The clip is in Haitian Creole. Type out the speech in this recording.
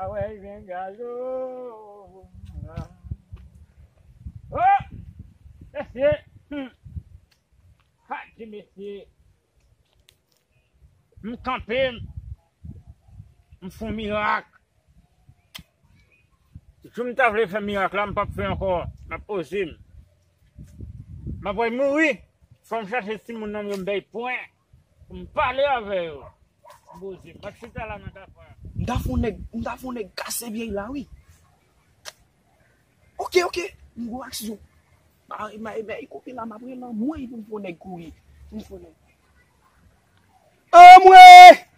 Awèy gen gaz ooh la ooh mesye humm ha ti mesye m kanpe m fon mirak jou m ta vle fè mirak la m pap fè ankò map poze m map wè mouri fòm chache timoun nan yo m bay pwen. M pale avè yo bouzen. Bat chita la nan kafou a. M ta fon nèg m ta fon nèg kase vyèy la wi. Ok ok m gwo aksyon. Mare mare vyèy kote la map rele anmweyy pou m fon nèg kouri pou m fon nèg. Anmweyy.